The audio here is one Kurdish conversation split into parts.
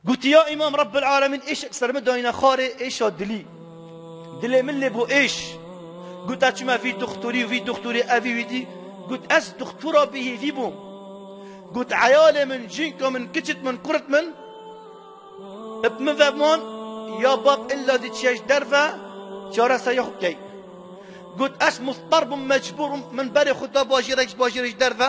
Gotiya Îmam Rebbil Alemîn êşek ser min dayîne xwarê êşa dilî. Dilê min lê bo êş. Gote çime vî doxtorî û vî doxtorî evî wî dî. Got ez doxtora bêhêvî bûm. Got eyalê min, cinka min, kiçit min, kurit min bi min ve man ya bab illa dî çêj derve çareserîya xwe bikey. Got ez muztar bûm mecbûr bûm min berê xwe da bajêrek ji bajêrê ji derve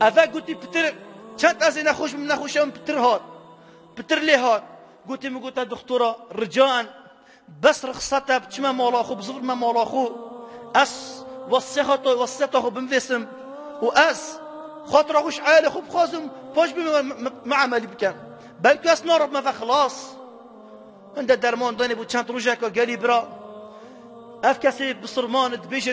Eve gotî pitir çend ez ê nexweş bim nexweşa min pitir hat. Pitir lê hat. Gotî min gote dixtora rican bes rixsat e biçime mala xwe bizivir me mala xwe. Ez wesihata wesiyeta xwe bimvêsim û ez xatira xwe ji eyalê xwe bixwazim paş bê min emelî bikim. Belku ez nara bime ve xilas. Min de derman danê bo çend rojeka gelî bira. Ev kesê bi sirmane dibêje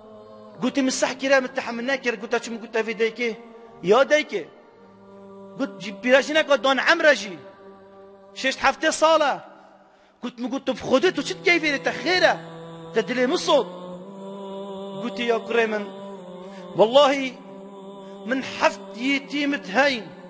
Gotim min seh kir e min tehemil nekir gota çi min got tevê daykê ya daykê got pîra jî neka dan emre jî şeşt heftê sal e got min got tu bi xwedê tu çi dikeyî fêrê te xêr e te dilê min sot gotî ya kurê min wellahî min heft yîtîmit heyîn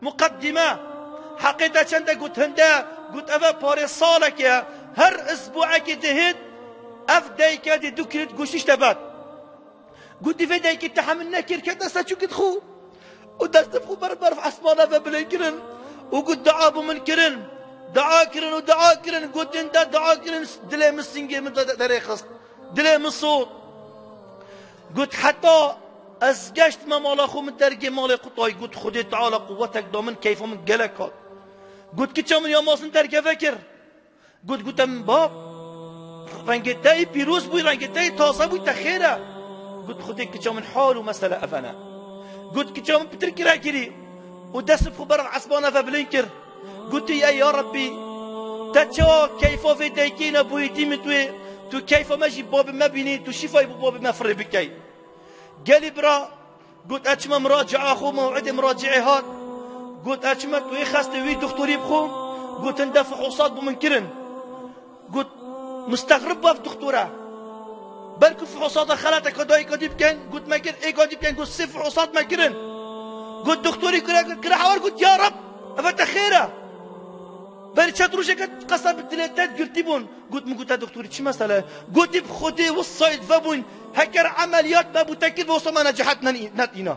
Muqedîme, Heqê te çend e got hin de, got ev e parê salekê, her isbuekê dihêt, ev dayike dê du krît goştîş te bed. Gotî vê dayikê tehemil nekir kete ser çûkit xwe û destên xwe ber berf esmana ve bilênd kirin û got dua bo min kirin. Dua kirin û dua kirin, gotin te dua kirin dilê min singê min derê xist, dilê min sot. Got, Heta ez geşt me mala xwe min dergê malê xwe dayî. Got, Xwedê Teala quwetek da min, keyfa min gelek hat. Got, Kiça min ya Masin dergeve kir. Got, Gote min bab, rengê te yî pîroz bû, rengê te yî taze bû, te xêr e. Got, Xwedê kiça min hal û mesele ev ne. Got, Kiça min pitir kira kirî û destê xwe ber esbana ve bilind kir. Gotî ey ya Rebbî te çawa keyfa vê daykî ne bûyî dî min tu yê tu keyfa me jî babê me bînî tu şîfayî bo babê me firê bikey. Gelî bira got ez çima miracea xwe mewidê miraceê hat got ez çima tu yê xestê wî dixtorî bixwim gotin de fihûsat bo min kirin. Got, Mustexrib baf dixtor e. Belku fihosata xelateke dayika dî bikin. Got, Me kir. Êka dî bikin. Got, Sê fihosat me kirin. Got, Dixtorî kure kir. Kire hewer got, Ya Reb, eve te xêr e. Berî çet rojeke qesa bi dilê te girtî bûn. Got, Min gote dixtorî çi mesele? Gotî, Bi Xwedê wisayî divebûn heker emeliyat me bû te kir, wisa me necehet netîna.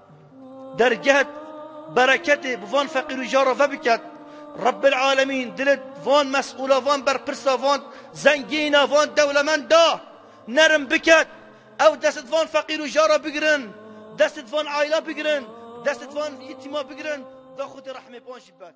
Derget bereketê bi van feqîr û jar re vebiket. Rebbil alemîn dilê van mesûla van berpirsa van zengîna van dewlemenda nerim biket. Ew dest di van feqîr û jar re bigirin. Dest di van aîla bigirin. Dest di van yitîma bigirin. Daxwitê rehmê van jî bet.